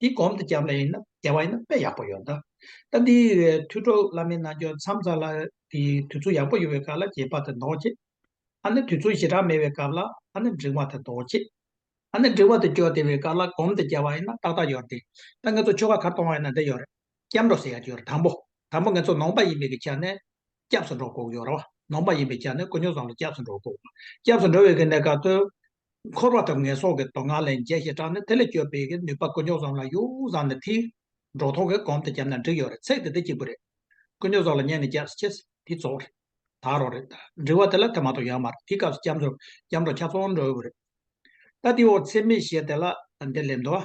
འདི་སྒོམ་དུ་བཅར་བ་ཡིན་ན་བདེ་བ་ཡིན་ན་དཔེ་ཡག་པོ་ཡོད་ད། ད་འདིའི་མཐུས་གྲོགས་བླ་མའི་རྣལ་འབྱོར་མཚམས་ཚར་ལ། དེ་དུས་ཚོད་ཡག་པོ་ཡོད་པའི་སྐབས་ལ་དགྱེས་པ་དང་འདོགས་ཆེ། ཨ་ནི་དུས་ཚོད་ཞེ་དྲག་མེད་པའི་སྐབས་ལ་ཨ་ནི་འབྲིང་བ་དང་འདོགས་ཆེ། ཨ་ནི་འབྲིང་བ་དང་ཅོ་བདེ་བའི་སྐབས་ལ་སྒོམ་དུ་བཅར་བ་ཡིན་ན་ཏག་ཏག་ཡོད་དེ། ད་ངེད་ཚོ་ཆོ་ག་གར་གཏོང་བ་ཡིན་ན་འདི་ཡོད་རེད། སྐྱབས་འགྲོ་ཟེར་ཡག་གི་ཡོད་རེད་དང་པོ། དང་པོ་ངེད་ཚོ་ནོངས་པ་ཡིན་པའི་གི་ཆ་ནས། སྐྱབས་སུ་འགྲོ་དགོས་ཀྱི་ཡོད་རེད་བ། ནོངས་པ་ཡིན་པའི་ཆ་ནས་དཀོན་མཆོག་བཟང་ལ་སྐྱབས་སུ་འགྲོ་དགོས་བ། སྐྱབས་སུ་འགྲོ་བའི་གི་གནས་སྐབས་དུ། འཁོར་བ་དང་ངན་སོང་གི་དོང་ངར་ལས་འཇལ་ཞེས་དྲངས་ནས་དེ་ལས་སྐྱོབ་པའི་ནུས་པ་དཀོན་མཆོག་ཙམ་ལ་ཡོངས་སུ་བཟང་ནས་ཐིག། འབྲོག་ཐོག་གི་གོམ་དུ་བརྒྱབ་ན་འགྲིག་ཡོད་རེད་ཚེག་དེ་དེ་གཅིག་པུ་རེད། དཀོན་མཆོག་སོགས་ལ་མཉན་ནས་རྒྱབ་ཀྱི་ཆས་དེ་རྫོགས་རེད། དག་རོགས་རེད། འབྲི་བ་དེ་ལ་དེ་མ་གཏོགས་ཡང་མ་རེད་དེའི་སྐབས་སུ་སྐྱབས་འགྲོ་སྐྱབས་འགྲོ་ཁྱབ་ཚོང་འགྲོ་དགོས་རེད། ད་དེའི་འོག་ཚེག་མེད་ཞེས་དེ་ལ་འདི་ལས་མདོ་བ།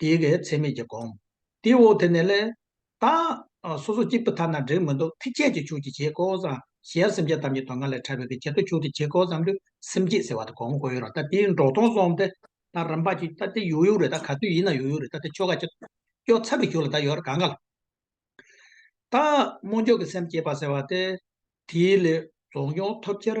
དེའི་གེགས་ཚད་མེད་ཀྱིས་བསྒོམ། དེའི་འོག་དེ་ནས་ལས། དང། སོ་སོ་གཅིག་པུ་ཐ་ན་འབྲེལ་མི་འདུག་ཐིག་ཆད་ཀྱི་ཆོས་ཀྱི་བྱེད་ཀོ་བཟང། གཞན་སེམས་ཅན་ཐམས་ཅད་དོན་གང་ལས་འཕྲལ་བས་པའི་བྱེད་དོ་ཆོས་ཀྱི་བྱེད་ཀོ་བཟང་དུ་སེམས་བསྐྱེད་ཟེར་བ་དེ་གོང་གོ་ཡོད་ར་ད་དེའི་འགྲོགས་སྟོང་སོང་སྟེ། ད་རིམ་པ་གཅིག་ད་དེ་ཡོད་ཡོད་རེད་ད་ག་དུས་ཡིན་ན་ཡོད་ཡོད་རེད་ད་དེ་ཆོ་ག་གཅིག། སྐྱོ་ཚབ་པའི་ཞོར་ལ་ད་ཡོད་ར་ག་འགའ་ལ། དང། རྨོངས་འཇོག་གི་སེམས་བསྐྱེད་པ་ཟེར་བ་སྟེ། དེའི་ལས། རྫོགས་མྱོང་ཐོབ་ཕྱིར།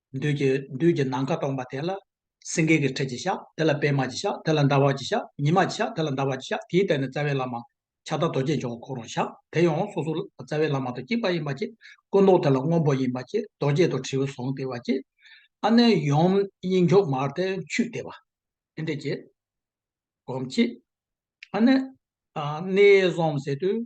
བདུད་ཀྱི་བདུད་ཀྱི་ནམ་མཁའ་སྟོང་པ་དེ་ལ། སེང་གེ་གི་ཁྲི་ཅིག་བཞག་དེ་ལ་པད་མ་ཅིག་བཞག་དེ་ལ་ཟླ་བ་ཅིག་བཞག་ཉི་མ་ཅིག་བཞག་དེ་ལ་ཟླ་བ་ཅིག་བཞག་དེའི་སྟེང་ནས་རྩ་བའི་བླ་མ། ཕྱག་དར་རྡོ་རྗེ་འཇོག་གོ་ཁོ་རང་བཞག་དེ་ཡང་སོ་སོ་ལ་རྩ་བའི་བླ་མ་དང་གཅིག་པ་ཡིན་པ་གཅིག། སྐུ་མདོག་དེ་ལ་སྔོན་པོ་ཡིན་པ་གཅིག་རྡོ་རྗེ་དང་དྲིལ་བུ་ཟུང་དེ་བ་གཅིག། ཨ་ནེ་ཡུམ་དབྱིངས་མཆོག་མར་ལྟའི་ཆུས་དེ་བ། ཨེ་འདྲས་ཀྱི། སྒོམ་གཅིག། ཨ་ནེ། གནས་གསུམ་ཟད་དུས།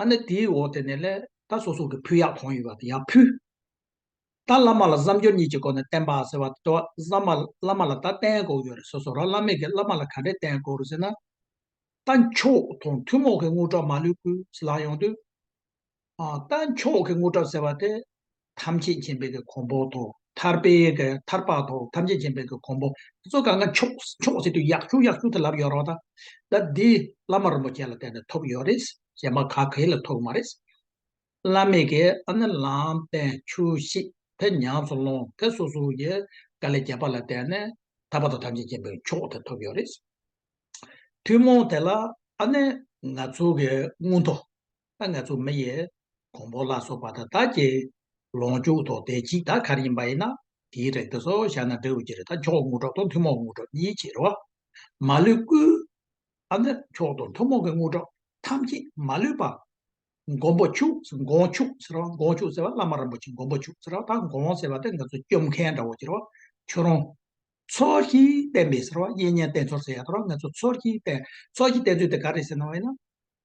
ཨ་ནི་དེའི་འོག་དེ་ནས་ལས། ད་སོ་སོ་གི་ཕུ་ཡག་གང་ཡོད་པ་དེ་ཡག་ཕུལ། ད་བླ་མ་ལ་བསམ་སྦྱོར་གཉིས་ཀྱི་སྒོ་ནས་བསྟན་པ་ཟེར་བ་དེ་བསམ། བླ་མ་ལ་ད་བསྟན་དགོས་ཡོད་རེད་སོ་སོ་རང་བླ་མེད་ཀྱི་བླ་མ་ལ་ག་འདྲས་བསྟན་དགོས་རུ་ཟེར་ན། རྟ་མཆོག་དང་ཐུན་མོང་གི་དངུལ་གྲབས་མ་ལུས་ཀུན་ལག་ཡོང་དུས། རྟ་མཆོག་གི་དངུལ་གྲབས་ཟེར་བ་དེ། ཐམས་ཅད་མཁྱེན་པའི་གོང་འཕོ་ཐོག་ཐར་པའི་ཐར་པ་ཐོག་ཐམས་ཅད་མཁྱེན་པའི་གོང་འཕོ། གཙོ་ག་ང་ཆོག་ཆོག་ཟེར་དུས་ཡག་ཆུང་ཡག་ཆུང་དུ་ལབ་ཡོད་རོགས་ད། ད་འདི་བླ་མ་རིན་པོ་ཆེ་ལ་བསྟན་ནས་ཐོབ་ཡོད་རེད། གཞན་པ་ག་གེ་ལ་ཐོབ་མ་རེད། བླ་མེད་ཀྱི་ཨ་ནི་ལམ་བསྟན་ཆུ་བཤིག་ཕེ་ཉག་ཚུར་སློང་ཕེ་སོ་སོ་ཡི་དཀའ་ལས་རྒྱལ་པ་ལ་བསྟན་ནས་ཐར་པ་ཐོག་ཐམས་ཅད་མཁྱེན་པའི་མཆོག་དེ་ཐོབ་ཡོད་རེད། ཐུན་མོང་དེ་ལ་ཨ་ནི་ང་ཚོ་གི་དངུལ་མཐོ། ད་ངས་ཚུགས་མི་ཡི། གོང་འཕོ་ལ་སོགས་པ་ད་ལྟ་ཀྱི། ལོངས་སྤྱོད་དོ་བདེ་གཅིག་ད་གར་ཡིན་པ་ཡིན་ན། དེའི་རེག་དུ་སོགས་བཞག་ན་འབྲས་བུ་གྱིར་ད་མཆོག་དངོས་གྲོགས་དང་ཐུན་མོང་དངོས་གྲོགས་གཉིས་ཕྱིར་རོ། མ་ལུས་སྐུ། ཨ་ནི་མཆོག་དང་ཐུན་མོང་གི་དངོས་གྲོགས་ཐམས་ཅད་མ་ལུས་པ། མགོན་པོ་ཕྱུགས་མགོན་ཕྱུགས་ཟེར་བ་མགོན་ཕྱུགས་ཟེར་བ་བླ་མ་རིན་པོ་ཆེ་མགོན་པོ་ཕྱུགས་ཟེར་བ་དང་མགོན་ཟེར་བ་དེ་ང་ཚོ་སྐྱོབ་མཁན་འདྲ་བོ་གྱིར་བ། ཁྱོད་རང། ཚོགས་ཀྱི་བསྟན་པའི་ཟེར་བ་གཡས་བརྙན་བསྟན་ཚོགས་ཟེར་ཡག་ཐོག་ང་ཚོ་ཚོགས་ཀྱི་བསྟན་ཚོགས་ཀྱི་བསྟན་ཚོད་དེ་ག་རེ་ཟེར་ན་བ་ཡིན་ན།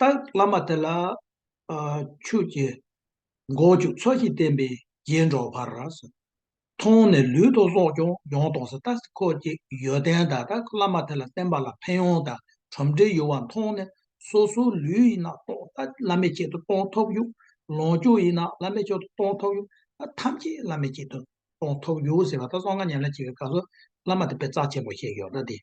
ལྟར་བླ་མ་དེ་ལ། ཆོས་ཀྱི་མགོ་བཅུ་ཚོགས་ཀྱིས་བསྟན་པའི་རྗེས་འགྲོ་བར། མཐོང་ནས་ལུས་དང་སྲོག་ཀྱང་ཡོངས་གཏོང་སྲིད་ལྟ་ཁོ་ཅི་ཡོད་ལྡན་དག་ལྟར་བླ་མ་དེ་ལ་བསྟན་པ་ལ་ཕན་ཡོན་དང་གྲུབ་འབྲས་ཡོད་བ་མཐོང་ནས་སོ་སོའི་ལུས་ཡིན་ན་རྟོག་ལྟ་བླ་མའི་ཆེད་དུ་གཏོང་ཐོབ་ཡུག། ལོངས་སྤྱོད་ཡིན་ན་བླ་མའི་ཆེད་དུ་གཏོང་ཐོབ་ཡུག་ཐམས་ཅད་བླ་མའི་ཆེད་དུ་གཏོང་ཐོབ་ཡུག་ཟེར་བ་ལྟར་སྲོག་སྔགས་ཉམས་ལེན་བྱེད་པའི་སྐབས་སུ་བླ་མ་དེ་པས་རྩ་ཆེན་པོ་ཞེས་ཡོད་ལྟ་སྟེ།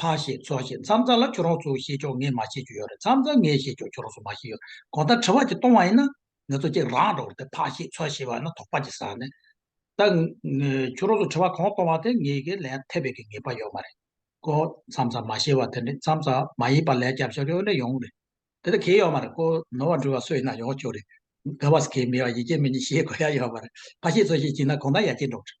ཕག་ཞེས་ཚོགས་ཞེས་མཚམས་རྩ་ལ་ཁྱོད་རང་ཚོ་བཤད་ཆོག་ངས་མ་བཤད་རྒྱུ་ཡོད་རེད་མཚམས་རྩ་ངས་བཤད་ཆོག་ཁྱོད་རང་ཚོ་མ་བཤད་ཡོད་རེད་གང་ལྟར་དྲི་བ་གཅིག་གཏོང་བ་ཡིན་ན། ངས་ཚོ་གཅིག་རང་འགྲོ་རེད་དེ་ཕག་ཞེས་ཚོགས་ཞེས་བ་ན་དོགས་པ་གཅིག་ཟ་ནས། ད། ཁྱོད་རང་ཚོ་དྲི་བ་གང་གཏོང་བ་དེ་ངས་ཀྱི་ལན་ཐེབས་པའི་ཀྱི་ངེས་པ་ཡོད་མ་རེད་ཀོ། མཚམས་རྩ་མ་བཤད་བ་དེ་ནི་མཚམས་རྩ་མ་ཡིན་པ་ལན་རྒྱབ་ཤོར་ཡོད་ན་ཡོང་རེད། དེ་ལྟ་གི་ཡོད་མ་རེད་ཀོ། ནོར་བ་འབྲུ་བ་སུ་ཡིན་ན་ཡོང་ཆོག་རེད། དགའ་བ་སི་ཁའི་མི་བ་ཡིག་སྐྱེལ་མི་གཉིས་ཤེས་དགོས་ཡ་ཡོད་མ་རེད། ཕག་ཞེས་ཚོགས་ཞེས་བྱིན་ན་གང་ལྟར་ཡ་སྐྱེལ་འགྲོ་གི་རེད།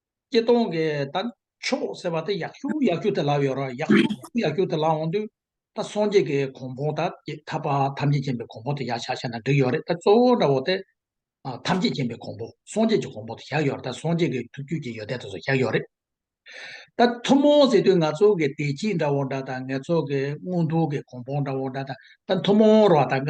སྐྱིད་གཏོང་གི་ད་ཕྱོགས་ཟེར་བ་དེ་ཡག་ཤུ་ཡག་ཤུ་དེ་ལབ་ཡོད་ར་ཡག་ཤུ་ཡག་ཤུ་དེ་ལབ་འོང་དུས་ད་སངས་རྒྱས་ཀྱི་གོང་བོང་ད་ཐར་པ་ཐམས་ཅད་མཁྱེན་པའི་གོང་བོང་དེ་ཡག་ཤག་ཤག་ན་འགྲིག་ཡོད་རེད་ད་གཙོ་བོ་འདྲ་བོ་དེ་ཐམས་ཅད་མཁྱེན་པའི་གོང་བོ་སངས་རྒྱས་ཀྱི་གོང་བོ་དེ་ཞག་ཡོད་རེད་ད་སངས་རྒྱས་ཀྱི་ཐུགས་རྒྱུད་ཀྱི་ཡོད་དད་དེ་ཚོ་ཞག་ཡོད་རེད། ད་ཐུན་མོང་ཟེར་དུས་ང་ཚོ་གི་བདེ་སྐྱིད་འདྲ་བོ་འདྲ་དང་ངེད་ཚོ་གི་དངུལ་ཕུག་གི་གོང་བོང་འདྲ་བོ་འདྲ་དང་ད་ཐུན་མོང་རོ་ད་ག་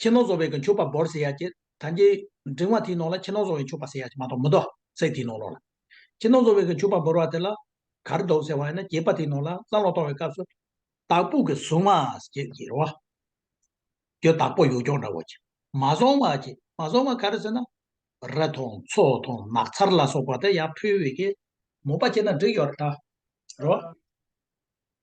ཁྱི་ནོར་བཟོ་བའི་གི་མཆོད་པ་འབོར་ཟེར་ཡ་ཀྱེ། ད་ཀྱེ། འབྲིང་བ་དེའི་ནང་ལ་ཁྱི་ནོར་བཟོ་བའི་མཆོད་པ་ཟེར་ཡ་ཀྱེ་མ་གཏོགས་མི་འདུག་སེ་དེའི་ནང་ལོགས་ལ། ཁྱི་ནོར་བཟོ་བའི་གི་མཆོད་པ་འབོར་བ་དེ་ལ། གར་འདོགས་ཟེར་བ་ཡིན་ན་ཀྱེ་པ་དེའི་ནང་ལ་སང་ལོ་གཏོང་བའི་སྐབས་སུ། བདག་པོ་གི་གཟུགས་མ་ཀྱེ་ཀྱེ་རོ། ཀྱེ་བདག་པོ་ཡོ་ཀྱོག་འདྲ་བོ་ཀྱེ། མ་བཟང་བ་ཀྱེ་མ་བཟང་བ་ག་རེ་ཟེར་ན། ར་དང་མཚོ་དང་ནགས་ཚར་ལ་སོགས་པ་དེ་ཡར་ཕུལ་བའི་གི། མོ་པ་ཀྱེ་ན་འགྲིག་ཡོ་ར་འདྲ་རོ།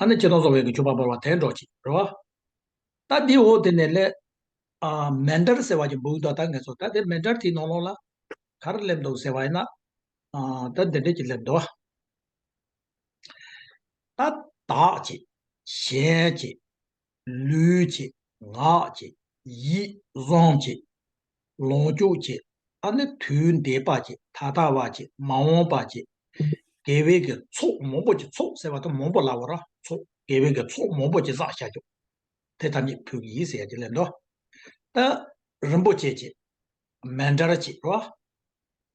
ཨ་ནི་ཁྱི་དང་སོ་བའི་གི་ཆུ་བ་བོར་བ་དེ་འགྲོགས་ཅིག་རོ། ད་དེའི་འོག་དེ་ནས་སླེ། མན་དར་ཟེར་བ་ཀྱི་འབུག་ད་ད་ངས་སོ་ད་དེ་མན་དར་དེའི་ནང་ལོག་ལ། གར་སླེབས་འདུག་ཟེར་བ་ཡིན་ན། ད་འདི་འདྲས་ཀྱི་སླེབས་འདུག་ཨ། ད། དག་ཅིག། གཞན་ཅིག། ལུས་ཀྱི་ངག་གི་ཡིད་བཟང་གི་ལོངས་སྤྱོད་ཀྱི་ཨ་ནི་དུས་འདས་པ་ཀྱི་ད་ལྟ་བ་ཀྱི་མ་འོངས་པ་ཀྱི་དགེ་བའི་གི་ཚོགས་མང་པོ་ཀྱི་ཚོགས་ཟེར་བ་དང་མང་པོ་ལ་བ་ར་ཚོགས་དགེ་བའི་གི་ཚོགས་མང་པོ་ཀྱི་བསགས་བྱ་ཀྱོ། དེ་ཐམས་ཅད་ཕུག་གིས་ཟེར་ཀྱི་ལན་ཏོ། ཏ། རིན་པོ་ཆེ་ཀྱི་མན་འདྲར་བྱེད་པ།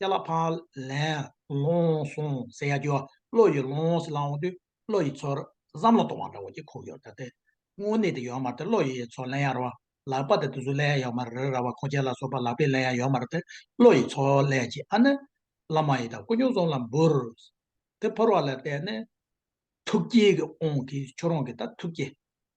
གཏད་ལ་ཕ། ལན། ལོངས། སོང་ཟེར་ཡ་རྒྱུ་བ་བློ་ཡི་ལོངས་སེ་ལ་འོང་དུས་བློ་ཡི་ཚོར། བསམ་བློ་གཏོང་བ་འདྲ་བོ་ཀྱི་ཁོག་ཡོད་ད་སྟེ། དངོས་གནས་དེ་ཡོད་མ་རེད་བློ་ཡི་ཚོར་ལན་ཡ་ར་བ། ལག་པ་དེ་དུས་སུ་ལན་ཡ་ཡོད་མ་རེད་རེད་ར་བ་ཁོང་ཁྱེད་ལ་སོགས་པ་ལག་པས་ལན་ཡ་ཡོད་མ་རེད་དེ་བློ་ཡི་ཚོར་ལན་གྱིས་ཨ་ནི། བླ་མ་ཡི་དྭགས་སྐུ་སྙུང་ཟོམ་ལ་འབུར། དེ་ཕོར་བ་ལ་བལྟས་ནས། ཐུགས་དཀྱིལ་གྱི་ཨོང་གིས་ཁྱོད་རང་གིས་ད་ཐུགས་དཀྱིལ།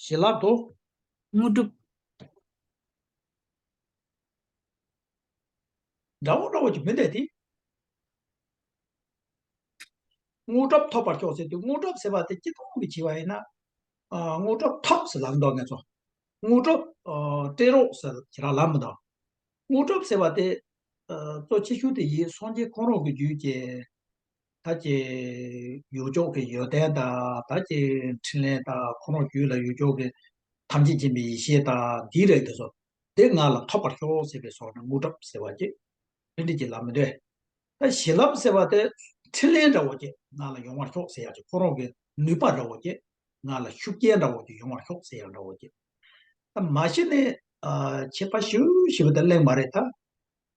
བྱིན་རླབས་དང། དངོས་གྲུབ། དགྲ་བོ་བློ་བ་ཅིག་མི་འདས་ཏེ། དངོས་གྲུབ་ཐོབ་པར་ཤོག་ཟེར་དུས་དངོས་གྲུབ་ཟེར་བ་དེ་སྐྱིད་སྡུག་གི་བྱིས་པ་ཡིན་ན། དངོས་གྲུབ་ཐོབ་ཟེར་ལམ་འདོགས་ངེས་སོ། དངོས་གྲུབ་སྤྲད་རོགས་ཟེར་ཁྱེད་རང་ལམ་མི་འདོགས། དངོས་གྲུབ་ཟེར་བ་དེ། གཙོ་ཆེ་ཤོས་དེ་ཡིད་སངས་རྒྱས་ཁོང་རང་གི་རྒྱུད་ཀྱི། ད་ཅི་ཡུལ་ཕྱོགས་ཀྱི་ཡོན་ཏན་དང་ད་ཅི་འཕྲིན་ལས་དང་ཁོ་རང་རྒྱུད་ལ་ཡུལ་ཕྱོགས་ཀྱི་ཐམས་ཅད་མཁྱེན་པའི་ཡེ་ཤེས་དང་འདིའི་རེག་དེ་སོགས་དེ་ང་ལ་ཐོབ་པར་ཤོག་ཟེར་བའི་སོགས་ནས་དངོས་གྲུབ་ཟེར་བ་ཅི། འཕྲིན་སྒྲིག་གི་ལམ་མི་འདྲེ། ད་གཞི་ལམ་ཟེར་བ་དེ་འཕྲིན་ལས་འདྲ་བོ་ཅི་ང་ལ་ཡོང་བར་ཤོག་ཟེར་ཡང་ཅི་ཁོ་རང་གི་ནུས་པ་འདྲ་བོ་ཅི་ང་ལ་ཤུགས་རྐྱེན་འདྲ་བོ་ཅི་ཡོང་བར་ཤོག་ཟེར་ཡང་འདྲ་བོ་ཅི། ད་མ་གཞི་ནས། ཆད་པ་ཞུ་ཞེས་པ་དེ་གླེང་མ་རེད་ད།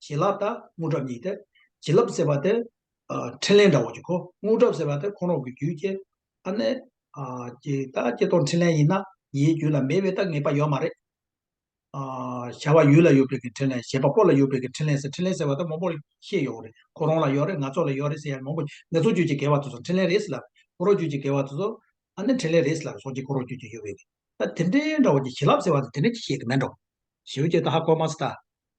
བྱིན་རླབས་དང་དངོས་གྲུབ་གཉིས་ཏེ། བྱིན་རླབས་ཟེར་བ་དེ། ཕྲིན་ལས་འདྲ་བོ་གཅིག་གོ། དངོས་གྲུབ་ཟེར་བ་དེ་ཁོང་རོག་གི་རྒྱུའི་རྐྱེན། ཨ་ནི། ཀྱེ་ད་ཀྱེ་རྟོག་འཕྲིན་ལས་ཡིན་ན། ཡའི་རྒྱུད་ལ་མེད་པའི་ལྟ་ངེས་པ་ཡོད་མ་རེད། བྱ་བ་ཡུལ་ལ་ཡོད་པའི་གི་འཕྲིན་ལས་བྱེད་པ་པོ་ལ་ཡོད་པའི་གི་འཕྲིན་ལས་ཟེར་འཕྲིན་ལས་ཟེར་བ་དེ་མང་པོ་ཤེས་ཡོད་རེད་ཁོ་རང་ལ་ཡོད་རེད་ང་ཚོ་ལ་ཡོད་རེད་ཟེར་ཡ་མང་པོ་ངེད་ཚོ་རྒྱུད་ཀྱི་དགེ་བ་དེ་ཚོ་འཕྲིན་ལས་རེད་ཟེར་ལབ་ཁོ་རོག་རྒྱུད་ཀྱི་དགེ་བ་དེ་ཚོ། ཨ་ནི་འཕྲིན་ལས་རེད་ཟེར་ལབ་སོགས་ཀྱིས་ཁོ་རོག་རྒྱུད་ཀྱི་ཡོད་པའི་གི། ད་དེ་འདྲའི་འདྲ་བོ་ཀྱི་བྱིན་རླབས་ཟེར་བ་དེ་དེ་འདྲ་གཅིག་ཤེས་གི་མེད་འགྲོ། ཞེས་པའི་ཀྱེ་ད་ཧ་གོ་མ་སི་ད།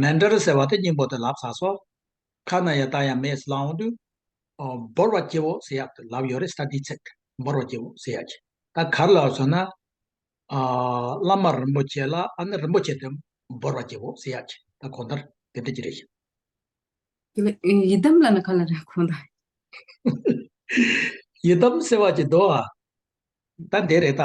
མེ་འདྲར་ཟེར་བ་དེ་སྙིང་པོ་དེ་ལབ་ས་སོ། ཁ་ན་ཡང་ད་ཡང་མེས་བསླང་འོང་དུས། འབོར་བ་སྐྱེ་བོ་ཟེར་ཡག་དེ་ལབ་ཡོད་རེད་ས་དེའི་ཚེག་འབོར་བ་སྐྱེ་བོ་ཟེར་ཡག་གི། ད་གར་ལབ་སོང་ན། བླ་མ་རིན་པོ་ཆེ་ལ་ཨ་ནི་རིན་པོ་ཆེ་དེ་འབོར་བ་སྐྱེ་བོ་ཟེར་ཡག་གི་ད་གོང་ལྟར་དེ་འདྲ་གྱི་རེད་ཤག། ཡི་དམ་ལ་ནི་ག་ལ་རེད་གོང་ལྟར། ཡི་དམ་ཟེར་བ་ཀྱི་མདོ་ཨ། ད་འདི་རེད་ད།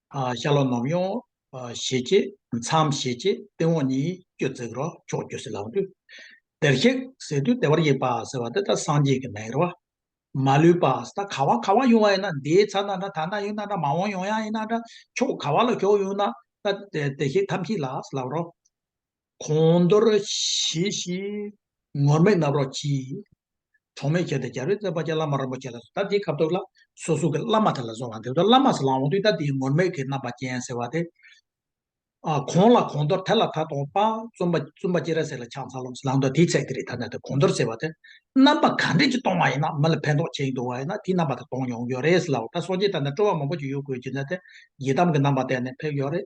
ཤ་ལོ་ནོམ་ཡོང། ཞེས་བྱེད། མཚམས་ཞེས་བྱེད་སྟེང་འོག་གཉིས་ཀྱི་བརྩེགས་རོ་ཕྱོགས་བཅུ་ཟིལ་ལག་འདུས། བདེར་གཤེགས་ཟེར་དུས་བདེ་བར་གཤེགས་པ་ཟེར་བ་འདི་ལྟར་སངས་རྒྱས་ཀྱི་མེ་རོ། མ་ལུས་པ་ད་ག་བ་ག་བ་ཡོང་བ་ཡིན་ན་འདིའི་ཚ་ན་འདྲ་ད་ན་ཡོང་ན་འདྲ་མ་འོངས་ཡོང་ཡང་ཡིན་ན་འདྲ་ཕྱོགས་ག་བ་ལ་ཞོག་ཡོང་ན་ད་བདེ་གཤེགས་ཐམས་ཅད་ལ་ཟིལ་ལག་རོ། གོང་མདོར་བཞེས་བཞི། ངོར་མེད་རྣམ་རོག་གྱིས། གྲོགས་མེད་བྱས་ཏེ་རྒྱལ་རོལ་བསྩལ་པ་རྗེ་བླ་མ་རིན་པོ་ཆེ་ལ་སོགས་ད་ལྟའི་ཁ་དོག་ལ་སོ་སོ་གི་བླ་མ་དེ་ལ་སོགས་ལ་འདི་ལྟར་བླ་མ་ཟེར་ལ་འོང་དུས་ད་ལྟའི་ངོར་མེད་ཀྱི་རྣམ་པ་ཅན་ཟེར་བ་དེ། གོང་ལ་གོང་མདོར་དེ་ལ་ད་དོང་པ་བཙུན་པ་བཙུན་པ་སྐྱེས་ར་ཟེར་ལ་ཕྱག་འཚལ་ལོ་ལང་དོ་དེའི་ཚེ་དེ་རིགས་ད་ནས་དེ་གོང་མདོར་ཟེར་བ་དེ། རྣམ་པ་ག་འདྲས་ཀྱིས་སྟོང་བ་ཡིན་ན་མི་ལ་ཕན་ཐོགས་ཆེན་འདུག་བ་ཡིན་ན་དེའི་རྣམ་པ་དེ་སྟོང་ཡོང་གི་ཡོད་རེད་ཟེར་ལ་འོ་ད་སོང་རྗེས་ད་ནས་སྤྲོ་བ་མང་པོ་ཅིག་ཡོད་དགོས་ཀྱི་འདུག་ཡི་དམ་གྱི་རྣམ་པ་བསྟན་ནས་ཕེབས་ཡོད་རེད།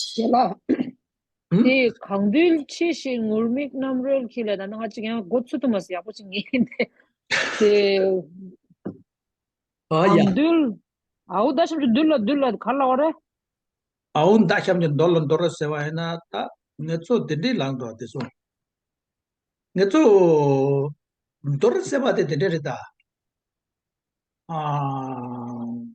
ཞེས་ལ། དེ་གང་འདུལ་ཆེ་ཞེས་ངུར་སྨྲིག་རྣམ་རོལ་གྱིས་ལས་དང་སྣང་བ་གཅིག་ཡང་སྒོ་ཚུལ་དུ་མ་ཟད་ཡག་པོ་ཅིག་ངེས་ཏེ། དེ། གང་འདུལ། ཨའུ་མདའ་ཤམ་གྱི་འདུལ་ལ་འདུལ་ལ་ག་ལ་བ་རེད། ཨའུ་མདའ་ཤམ་གྱི་འདོར་ལ་འདོར་རོ་ཟེར་བ་ཡིན་ན་ད་ངེད་ཚོ་དེ་འདྲའི་ལག་འགྲོ་དེ་སོང། ངེད་ཚོ། འདོར་ཟེར་བ་དེ་དེ་འདྲ་རེད་ད། ཨ།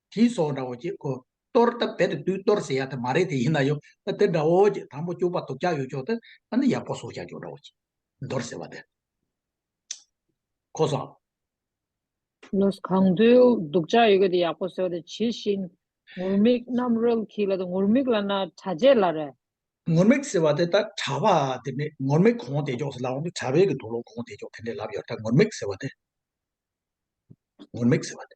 དྲི་སོགས་འདྲ་བོ་ཅི་དགོས། གཏོར་སྟབས་བེད་དུ་དུས་གཏོར་ཟེར་ཡ་དེ་མ་རེད་དེ་ཡིན་ན་ཡོད་ད་དེ་འདྲ་བོ་ཅི་དང་པོ་སྐྱུག་པ་དུག་ཆགས་ཡོད་ཆོག་དེ་ད་ནི་ཡག་པོ་སོགས་བྱ་ཆོག་འདྲ་བོ་ཅི། མདོར་ཟེར་བ་དེ། ཁོ་སོགས། ལོས་གང་དུས་དུག་ཆགས་ཡོད་དེ་ཡག་པོ་ཟེར་བ་དེ་ཇི་བཞིན་ངུར་སྨྲིག་རྣམས་རོལ་གྱིས་ལ་དེ་ངུར་སྨྲིག་ལ་ན་དྲ་རྗེས་ལ་རེ། ངུར་སྨྲིག་ཟེར་བ་དེ་ད་དྲ་བ་དེ་ནི་ངུར་སྨྲིག་གོང་དེ་ཅོག་ཟེར་ལ་འོང་དུས་དྲ་བའི་གི་དུག་ལོག་གོང་དེ་ཅོག་དེ་འདྲས་ལབ་ཡོད་ད་ངུར་སྨྲིག་ཟེར་བ་དེ། ངུར་སྨྲིག་ཟེར་བ་དེ།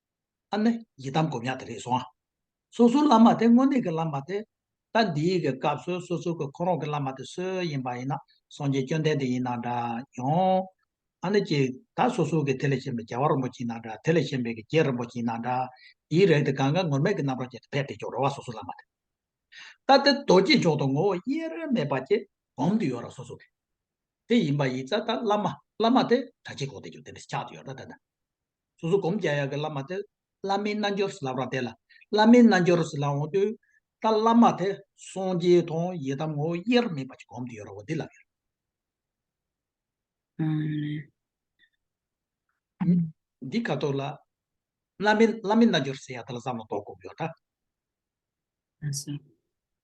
ཨ་ནི་ཡི་དམ་སྒོམ་ཡག་དེ་རེད་སོང། སོ་སོའི་བླ་མ་དེ་དངོས་གནས་ཀྱི་བླ་མ་དེ། ད་འདིའི་གི་སྐབས་སུ་སོ་སོའི་གི་ཁོ་རང་གི་བླ་མ་དེ་སུ་ཡིན་པ་ཡིན་ན་སངས་རྒྱས་བཅོན་ལྡན་དེ་ཡིན་ན་འདྲ་ཡང། ཨ་ནི་ཀྱི་ད་སོ་སོའི་གི་དེ་ལས་གཞན་པའི་རྒྱལ་བ་རིན་པོ་ཆེ་ཡིན་ན་འདྲ་དེ་ལས་གཞན་པའི་གི་རྒྱལ་རིན་པོ་ཆེ་ཡིན་ན་འདྲ། དེའི་རེག་དེ་གང་གཱའི་ངུར་སྨྲིག་གི་རྣམ་རོག་ཅན་དེ་ཕེབས་ཏེ་ཀྱང་རོ་བ་སོ་སོའི་བླ་མ་དེ། ད་དེ་རྡོ་རྗེ་མཆོག་ཏུ་ངོ་བོ་དབྱེར་རེ་མེད་པ་ཀྱི་སྒོམ་དུ་ཡོད་ར་སོ་སོའི་གི། དེ་ཡིན་པ་ཡིན་ཙ་ད་བླ་མ་བླ་མ་དེ་གྲ་ཆེན་གོང་དེ་ཀྱང་དེ་འདྲ་ཆགས་དུ་ཡོད་ར་ད་ད། སོ་སོ་སྒོམ་བརྒྱ་ཡག་གི་བླ་མ་དེ། བླ་མའི་རྣལ་འབྱོར་ལབ་ར་དེ་ལ། བླ་མའི་རྣལ་འབྱོར་ལ་འོང་དུས། ད་བླ་མ་དེ་སངས་རྒྱས་དང་ཡི་དམ་ངོ་བོ་དབྱེར་མེད་པ་ཅིག་བསྒོམ་དུ་ཡོད་ར་བ་འདི་ལབ་ཡོད། འདི་ཁ་ཐོར་ལ། བླ་མའི་རྣལ་འབྱོར་ཟེར་ཡག་དེ་ལ་བསམ་ལ་དོག་བསྒོམ་ཡོད་ད།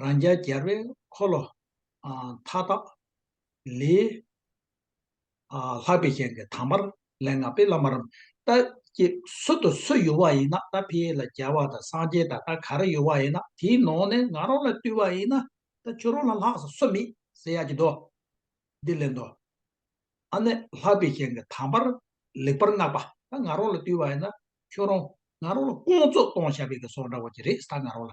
རང་རྒྱལ་རྒྱལ་བའི་འཁོར་ལོ་མཐའ་དག་ལས། ལྷག་པའི་ཞིང་གི་དྭངས་མར་ལས་ལྔ་པའི་བླ་མ་རམ་ཏཱ་སྐྱེས་སུ་དུ་སུ་ཡོད་བ་ཡིན་ན་ད་ཕི་ཡིས་ལ་རྒྱལ་བ་དང་སངས་རྒྱས་དང་ད་ག་རེ་ཡོད་བ་ཡིན་ན་དེའི་ནང་ནས་ང་རང་ལ་བཏུས་བ་ཡིན་ན་ད་ཁྱོད་རང་ལ་ལྷག་ས་སུ་མེད་ཟེར་ཡག་གི་འདུག་འདི་ལེན་དུ་ཨ་ནེ་ལྷག་པའི་ཞིང་གི་དྭངས་མར་ལེགས་པར་བསྔགས་པ་ད་ང་རང་ལ་བཏུས་བ་ཡིན་ན་ཁྱོད་རང་ང་རང་ལ་བསྐོང་ཚོགས་གཏོང་བྱ་བའི་གི་སོགས་འདྲ་བོ་ཅི་རེད་ད་ང་རང་ལ་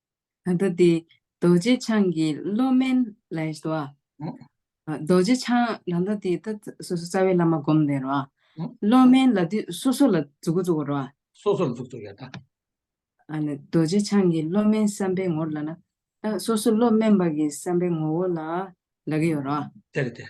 ད་ལྟ་དེ་རྡོ་རྗེ་འཆང་གི་བློ་དམན་ལ་ཡོད་དོ། རྡོ་རྗེ་འཆང་ད་ལྟ་དེ་ད་སོ་སོ་རྩ་བའི་བླ་མ་བསྒོམ་ནས་རོ། བློ་དམན་ལ་དུས་སོ་སོ་ལ་རྫོགས་རྫོགས་པར་རོ། སོ་སོར་རྫོགས་རྫོགས་ཡོད་ན། ཨ་ནི་རྡོ་རྗེ་འཆང་གི་བློ་དམན་བསམ་པའི་ངོར་ལ་ན། སོ་སོ་བློ་དམན་པ་གི་བསམ་པའི་ངོ་བོ་ལ་ལ་གི་ཡོད་རོ། དེར་ཐལ།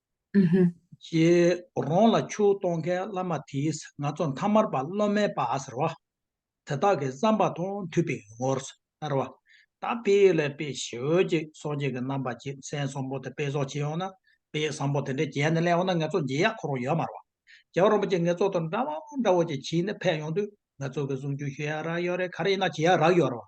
ཨཧཱ། ཞེས་རོང་ལ་ཆུ་གཏོང་མཁན་བླ་མ་དེས་ང་ཚོ་མཐའ་མར་པ་སློབ་མའི་པ་ཟེར་བ། དེ་དག་གི་བསམ་པ་དང་མཐུན་པའི་ངོར་ཟེར་བ། ད་དཔེ་ལས་དཔེ་ཞི་འོད་ཀྱི་སོ་སྐྱེས་ཀྱི་རྣམ་པ་ཅན་སེང་བཟང་པོ་དེ་དཔེ་བཟོ་བྱེད་ཡོང་ན་དཔེ་བཟང་པོ་དེ་འདྲའི་རྒྱན་དེ་གླེང་བ་ན་ངེད་ཚོ་འཇིགས་ཡག་འཁོར་བ་ཡོད་མ་རེད། རྒྱ་རོང་པ་ཅིག་ངེད་ཚོ་དང་འདྲ་བོ་འདྲ་བོ་ཅིག་བྱས་ནས་ཕེབས་ཡོང་དུས་ང་ཚོ་གི་གཟུངས་ཆུང་ཞུ་ཡག་རག་ཡོད་རེད་ག་རེ་ཡིན་ན་བྱེད་ཡག་རག་ཡོད་རེད།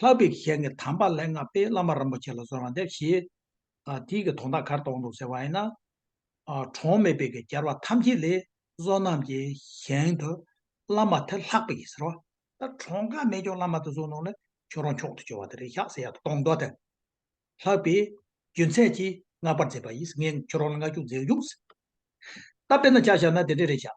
ལྷག་པའི་གཞན་གྱི་དམ་པ་ལྷའི་སྔགས་པས་བླ་མ་རིན་པོ་ཆེ་ལ་གསོལ་བ་འདེབས་ཤིག། དེའི་གི་དོང་དག་གར་དོང་དུ་ཟེར་བ་ཡིན། གྲོང་མེད་པའི་གི་གྱར་བ་ཐམས་ཅད་ལས། བསོད་ནམས་ཀྱི་གཞན་དུ་བླ་མ་དེ་ལྷག་པའི་ཟེར་བ། ད་གྲོང་དགའ་མེད་ཀྱང་བླ་མ་དེ་བསོད་ནོར་ལས་ཁྱོད་རང་མཆོག་ཏུ་གྱུར་བ་དེ་རེད་ཤག་ཟེར་ཡག་ཏུ་དོང་དུ་དེ། ལྷག་པའི་རྒྱུ་མཚན་གྱིས་བསྔགས་པར་མཛད་པ་ཡིས་ངས་ཁྱོད་རང་ལ་བསྔགས་བརྗོད་མཛད་ཡོང། ད་དཔེར་ན་བྱ་བཞག་ན་དེ་འདྲས་རེད་ཤག།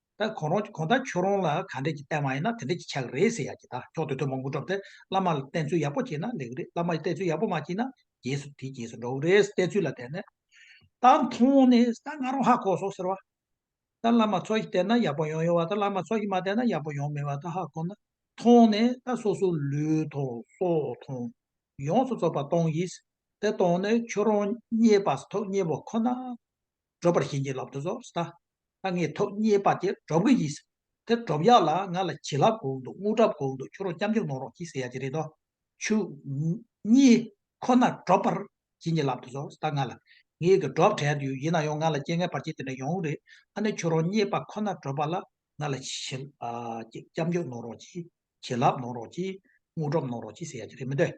ད་གོང་རོང་གི་གོང་ད་ཁྱོད་རོང་ལ་ག་འདྲས་ཀྱི་བསྟན་མ་ཡིན་ན་དེ་འདྲས་ཀྱི་ཆག་གི་རེད་ཟེར་ཡག་གི་ད་ཁྱོག་དོད་དོད་མང་པོ་འགྲོ་བསྡད་བླ་མ་ལ་བསྟན་ཚུལ་ཡག་པོ་བྱེད་ན་ལེགས་རེད་བླ་མ་ཡི་བསྟན་ཚུལ་ཡག་པོ་མ་བྱེད་ན་རྗེས་སུ་དེ་རྗེས་སུ་འགྲོ་གི་རེད་བསྟན་ཚུལ་ལ་བསྟན་ནས་ད་མཐོང་ནས་ད་ང་རོང་ཧ་གོ་སོང་ཟེར་བ་ད་བླ་མ་ཚོགས་ཀྱི་བསྟན་ན་ཡག་པོ་ཡོང་ཡོང་བ་ད་བླ་མ་ཚོགས་ཀྱི་མ་བསྟན་ན་ཡག་པོ་ཡོང་མེད་བ་ད་ཧ་གོ་ན་མཐོང་ནས་ད་སོ་སོ་ལུས་མཐོང་སྲོག་མཐོང་ཡོངས་སུ་རྫོགས་པ་གཏོང་གིས་ད་གཏོང་ནས་ཁྱོད་རོང་རྙེད་པ་སོ་ཐོག་རྙེད་པ་ཁོ་ན་སྒྲོག་པར་བྱིན་གྱིས་བརླབ་ཏུ་གསོལ། ད་ངས་ཐོག་རྙེད་པ་དེ་སྒྲོག་གི་ཡིན། དེ་སྒྲོག་ཡག་ལ་ང་ལ་བྱིན་རླབས་གོང་དུ་རྔུལ་གྲབས་གོང་དུ་ཁྱོད་རོགས་སྐྱབས་འཇུག་གནང་རོགས་གྱིས་ཟེར་ཡག་གི་རེད་དོ། ཆུ། གཉིས། ཁོ་ན་སྒྲོག་པར་བྱིན་གྱིས་བརླབ་ཏུ་གསོལ། ད་ང་ལ། ངའི་གི་སྒྲོག་བྲལ་དུ་ཡོད་ཡིན་ན་ཡང་ང་ལ་སྐྱེ་ངན་བར་ཆད་དེ་འདྲ་ཡོང་རེད་ཨ་ནི་ཁྱོད་རོགས་རྙེད་པ་ཁོ་ན་སྒྲོག་པ་ལ་ང་ལ་བྱིན། སྐྱབས་འཇུག་གནང་རོགས་གྱིས། བྱིན་རླབས་གནང་རོགས་གྱིས། རྔུལ་གྲབས་གནང་རོགས་གྱིས་ཟེར་ཡག་གི་རེད་མི་འདོད།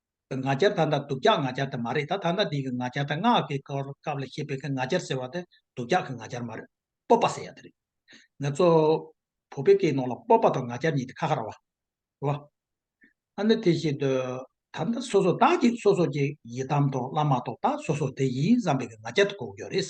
ང་རྒྱལ་ད་ལྟ་སྡུག་ཀྱག་ང་རྒྱལ་དེ་མ་རེད་ད་ད་ལྟ་འདི་གི་ང་རྒྱལ་དེ་སྔགས་ཀྱི་སྐབས་ལ་བཤད་པའི་གི་ང་རྒྱལ་ཟེར་བ་དེ་སྡུག་ཀྱག་གི་ང་རྒྱལ་མ་རེད་སྤོབས་པ་ཟེར་ཡག་དེ་རེད། ངེད་ཚོ་བོད་པའི་སྐད་ནང་ལ་སྤོབས་པ་དང་ང་རྒྱལ་གཉིས་དེ་ཁ་ཁ་ར་བ་རེད། ཨ་ནི་དེ་བཞིན་དུ་ད་ལྟ་སོ་སོ་བདག་གིས་སོ་སོ་ཀྱི་ཡི་དམ་དང་བླ་མ་དང་བདག་སོ་སོ་དེ་ཡིན་བསམ་པའི་གི་ང་རྒྱལ་དེ་གོ་གི་ཡོད་རེད།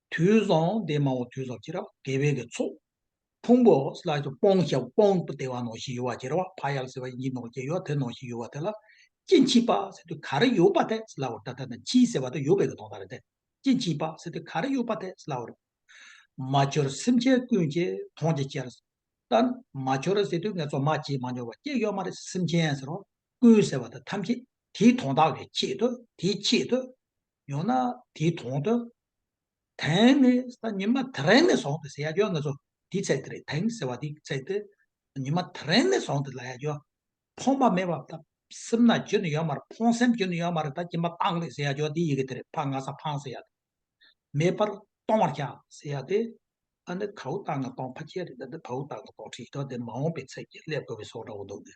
དུས་བཟང་འདས་མ་འོ་དུས་བཟང་ཁྱེར་བ་དགེ་བས་ཀྱི་ཚོགས། ཕུང་པོ་ལ་སོགས་སྤོང་བྱ་སྤོང་བདེ་བ་ནང་བཞིན་ཡོད་བ་ཁྱེར་བ་ཕ་ཡག་ཟེར་བ་ཡིན་གྱི་ནང་བཞིན་ཡོད་དེ་ནང་བཞིན་ཡོད་བ་དེ་ལ། སྐྱེ་འཆི་པ་ཟེར་དུས་ག་རེ་ཡོད་པ་དེ་སླ་བོར་ད་ལྟ་ན་འཆི་ཟེར་བ་དེ་ཡོད་པའི་གི་དོགས་ད་རེད་དེ། སྐྱེ་འཆི་པ་ཟེར་དུས་ག་རེ་ཡོད་པ་དེ་སླ་བོར། མ་འཆོར་སེམས་ཅན་ཀུན་གྱི་དོན་གྱི་ཕྱིར། ད་ནི་མ་འཆོར་ཟེར་དུས་ངས་ཚོར་མ་བྱས་མ་འཆོར་བ་སྐྱེ་ཡོད་མ་རེད་སེམས་ཅན་ཟེར་བ་ཀུན་ཟེར་བ་དེ་ཐམས་ཅད་དེའི་དོན་དག་གི་ཆེད་དུ་དེའི་ཆེད་དུ། ཡང་ན་དེའི་དོན་དུ་དེང་ནི་ས་ཉི་མ་དེ་རན་ནས་བཟུང་སྟེ་ཟེར་ཡ་རྒྱོ་ང་ཚོ་དེའི་ཚད་དེ་རེད་དེང་ཟེར་བ་དེའི་ཚད་དེ་ཉི་མ་དེ་རན་ནས་བཟུང་སྟེ་ལ་ཡ་རྒྱོ། ཕོངས་པ་མེད་པ་ད་སེམས་ན་རྒྱུ་ནི་ཡོད་མ་རེད་ཕོངས་སེམས་རྒྱུ་ནི་ཡོད་མ་རེད་ད་སྐྱིན་པ་ཏང་རེད་ཟེར་ཡ་རྒྱོ་དེའི་ཡི་གེ་དེ་རེད་ཕ་ང་ས་ཕང་ཟེར་ཡ་དེ། མེད་པར་སྟོང་བར་བྱ་ཟེར་ཡ་དེ། ཨ་ནི་ད་བུ་ཏང་ང་སྟོང་ཕ་ཁྱེད་རེད་ད་དེ་ད་བུ་ཏང་ང་སྟོང་ཁྲི་ཤི་ཐོ་དེ་མ་འོངས་པའི་ཚད་ཀྱིས་སླེབས་དགོས་པའི་སོགས་འདྲ་བོ་འདུག་གི།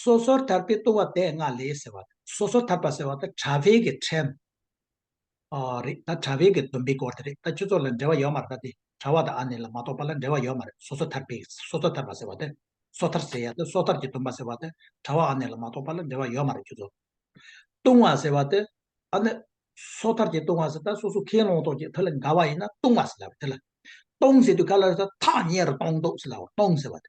སོ་སོར་ཐར་པའི་ལྟུང་བ་བས་ལྔ་ལས་ཟེར་བ་དང། སོ་སོར་ཐར་པ་ཟེར་བ་དང་གྲྭ་བྷེ་གི་ཕྲན། རེད་ད་གྲྭ་བྷེ་གི་བདུན་པའི་སྐོར་དེ་རེད་ད་ཁྱོད་ཚོ་ལ་འབྲེལ་བ་ཡོད་མ་རེད་ད་དེ་གྲྭ་བ་དང་ཨ་ནེ་ལ་མ་གཏོགས་པ་ལ་འབྲེལ་བ་ཡོད་མ་རེད་སོ་སོར་ཐར་པའི་སོ་སོར་ཐར་པ་ཟེར་བ་དེ། སོ་ཐར་ཟེར་ཡ་དེ་སོ་ཐར་གྱི་བདུན་པ་ཟེར་བ་དེ་གྲྭ་བ་ཨ་ནེ་ལ་མ་གཏོགས་པ་ལ་འབྲེལ་བ་ཡོད་མ་རེད་ཁྱོད་ཚོ། ལྟུང་བ་ཟེར་བ་དེ། ཨ་ནེ། སོ་ཐར་གྱི་ལྟུང་བ་ཟེར་ད་སོ་སོ་ཁས་ལོངས་དོགས་ཀྱི་དེ་ལ་འགལ་བ་ཡིན་ན་ལྟུང་བ་ཟེར་ལབ་དེ་ལ། སྟོང་ཟེར་དུས་ག་ལ་རེད་ད་ཐག་ཉེ་རུ་གཏོང་དོགས་ཟེར་ལབ་བར་སྟོང་ཟེར་བ་དེ།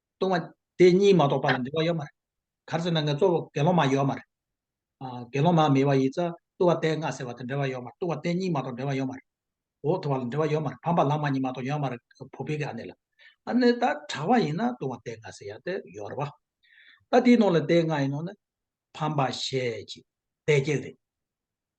ལྟུང་བ་དེ་གཉིས་མ་གཏོགས་པ་ལ་འབྲེལ་བ་ཡོད་མ་རེད། ག་རེ་ཟེར་ན་ངས་གཙོ་བོ་དགེ་སློང་མ་ཡོད་མ་རེད། དགེ་སློང་མ་མེད་པ་ཡིས་ཙང་ལྟུང་བ་དེ་ལྔ་ཟེར་བ་དེ་འབྲེལ་བ་ཡོད་མ་རེད་ལྟུང་བ་དེ་གཉིས་མ་གཏོགས་འབྲེལ་བ་ཡོད་མ་རེད། འོག་ཐོ་བ་ལ་འབྲེལ་བ་ཡོད་མ་རེད་ཕམ་པ་ལང་མ་གཉིས་མ་གཏོགས་ཡོད་མ་རེད་བོ་པི་ཀའི་ཨ་ནེ་ལ། ཨ་ནེ་ད་གྲགས་པ་ཡིན་ན་ལྟུང་བ་དེ་ལྔ་ཟེར་ཡག་དེ་ཡོད་རེད་བ། ད་དེའི་ནང་ལ་དེ་ལྔ་ཡིན་ནོ་ནི། ཕམ་པ་ཞེས་བྱས་དེ་གཅིག་རེད།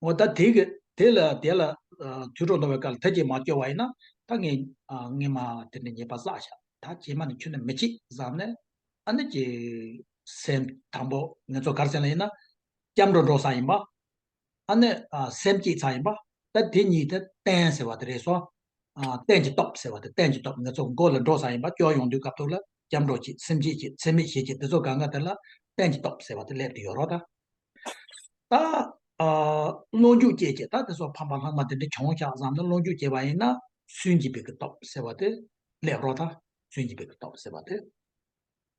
ངོ། ད་དེ་དེ་ལ་དེ་ལ། དུད་འགྲོ་འདོང་བའི་སྐལ་ལ་ཐ་ཇེ་མ་སྐྱོ་བ་ཡིན་ན། ད་ངེས་ངེས་མ་དེ་ནི་ཉེས་པ་བསགས་བྱ། ད་ཇེ་མ་ནི་ཁྱོད་ནི་མི་བྱེད་བཟང་ནི། ཨ་ནི་ཀྱི། སེམས་དང་པོ་ངེས་ཚོགས་གར་སེང་ལ་ཡིན་ན། སྐྱབས་འགྲོ་འགྲོ་བསགས་ཡིན་པ། ཨ་ནི་སེམས་བསྐྱེད་ཚགས་ཡིན་པ། ད་དེ་གཉིས་དེ་བསྟན་ཟེར་བ་དེ་རེད་སོ། གཏན་གྱི་སྟོབས་ཟེར་བ་དེ་གཏན་གྱི་སྟོབས་ངེད་ཚོ་མགོ་ལ་འགྲོ་བཟང་ཡིན་པ་སྐྱོར་ཡོང་དུས་སྐབས་ཐོག་ལ་སྐྱབས་འགྲོ་གྱིས་སེམས་སྐྱིད་ཀྱིས་འཚེ་མེད་ཞེས་ཀྱིས་འདི་ཚོ་ག་འགའ་དེ་ལ་གཏན་གྱི་སྟོབས་ཟེར་བ་དེ་སླེབས་དུ་ཡོད་རོགས་ད། ད། བློ་འཇུག་སྐྱེས་ཀྱིས་ད་དེ་ཚོ་ཕམ་པ་ལྷག་མ་དེ་འདྲ་བྱུང་ཤག་བསམ་ནས་བློ་འཇུག་སྐྱེས་པ་ཡིན་ན། སུན་གྱི་བེ་གི་སྟོབས་ཟེར་བ་དེ་སླེབས་རོགས་ད། སུན་གྱི་བེ་གི་སྟོབས་ཟེར་བ་དེ།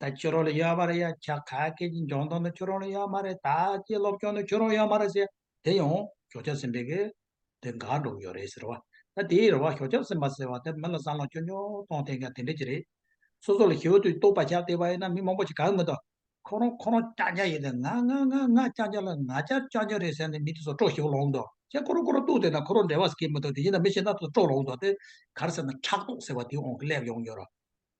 ད་ཁྱོད་རང་ལ་ཡོད་མ་རེད་ཡ་ཁྱ་ག་སྐད་ཀྱི་འཇོང་སྟངས་ནི་ཁྱོད་རང་ལ་ཡོད་མ་རེད་ད་ཁྱི་སློབ་སྦྱོང་ནི་ཁྱོད་རང་ཡོད་མ་རེད་ཟེར་དེ་ཡང་ཞོགས་ཁྱབ་ཟིན་པའི་གི་དེ་འགག་འགྲོ་གི་ཡོད་རེད་ཟེར་བ་ད་དེའི་རེ་བ་ཞོགས་ཁྱབ་ཟིན་པ་ཟེར་བ་དེ་མི་ལ་བསམ་བློ་ཁྱོད་ཉོ་གཏོང་ཐེངས་ཀྱང་དེ་འདྲས་ཀྱི་རེད། སོ་སོ་ལ་ཞི་བ་དུས་ལྟོགས་པ་ཆགས་བསྡད་པ་ཡིན་ན་མི་མང་པོ་ཞིག་ག་གི་མི་ལྟོས། ཁོ་རང་ཁོ་རང་ཀྱག་ཀྱག་ཡིན་ཏེ་ང་ང་ང་ང་ང་ཀྱག་ཀྱག་ལ་ང་ཅག་ཀྱག་ཀྱག་རེད་ཟེར་ནས་མི་དེ་ཚོ་སྤྲོ་ཞི་བ་ལོག་མདོག་ཁྱེད་ཁོ་རང་ཁོ་རང་ལྟོས་བསྡད་ན་ཁོ་རང་འབྲེལ་བ་ཟེར་གི་མི་ལྟོས་དེ་ཡིན་ན་མི་གཞན་དག་ཚོ་སྤྲོ་ལོག་མདོག་དེ་གར་ཟེར་ན་ཕྲག་དོག་ཟེར་བ་དེ་འོང་གི་སླེབས་ཡོང་གི་ཡོད་ར།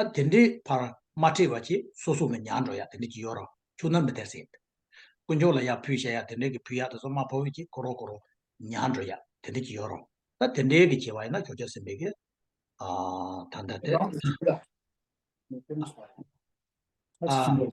ཨ་དེ་འདྲའི་བར་མ་ཁྲིད་བ་ཅི་སོ་སོ་མི་ཉག་འགྲོ་ཡག་དེ་འདྲའི་གི་ཡོ་རོ་ཆུག་ན་མི་དེར་སེ་ཡིན། དཀོན་མཆོག་ལ་ཡག་ཕུལ་བྱ་ཡག་དེ་འདྲའི་གི་ཕུལ་ཡག་དེ་སོ་མ་བོ་བོ་ཅི་གོ་རོ་གོ་རོ་ཉག་འགྲོ་ཡག་དེ་འདྲའི་གི་ཡོ་རོ་ཨ་དེ་འདྲའི་གི་བྱེད་བ་ཡིན་ན་ཁྱོད་ཅག་སེམས་པའི་གི་ཨ་ད་འདྲ་དེ་ཨ།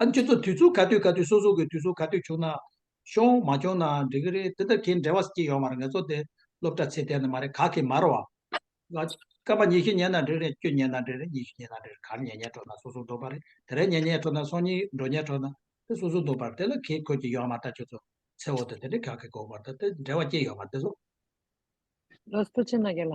ཨ་ཁྱོད་ཚོ་དུས་ཚོད་ག་དུས་ག་དུས་སོ་སོ་གི་དུས་ཚོད་ག་དུས་བྱུང་ན་བྱུང་མ་བྱུང་ནའང་འགྲིག་གི་རེད་འདི་ལྟར་ཁྱེད་འབྲེལ་བ་ཅིག་ཡོང་བར་ངེད་ཚོ་དེ་སློབ་གྲྭ་ཚེ་ཐལ་ནི་མ་རེད་ག་གི་མར་བ། སྐབས་པ་ཉི་ཤུ་ཉལ་ན་འགྲིག་རེད་བཅུ་ཉལ་ན་འགྲིག་རེད་གཉིས་ཤུ་ཉལ་ན་འགྲིག་རེད་གར་ཉལ་ཉལ་འགྲོ་ན་སོ་སོ་འགྲོ་པ་རེད་དེ་རེ་ཉལ་ཉལ་འགྲོ་ན་སོ་གཉིས་འགྲོ་ཉལ་འགྲོ་ན་དེ་སོ་སོ་འགྲོ་པར་དེ་ལ་གིས་ཁོས་ཀྱི་ཡོང་བར་ད་ཁྱོད་ཚོ་ཚེ་འོག་ཏུ་དེ་འདྲའི་ག་གི་གོ་བར་ད་དེ་འབྲེལ་བ་ཅིག་ཡོང་བར་དེ་སོ། རོ་སྤུ་ཆེ་ན་གེ་ལ།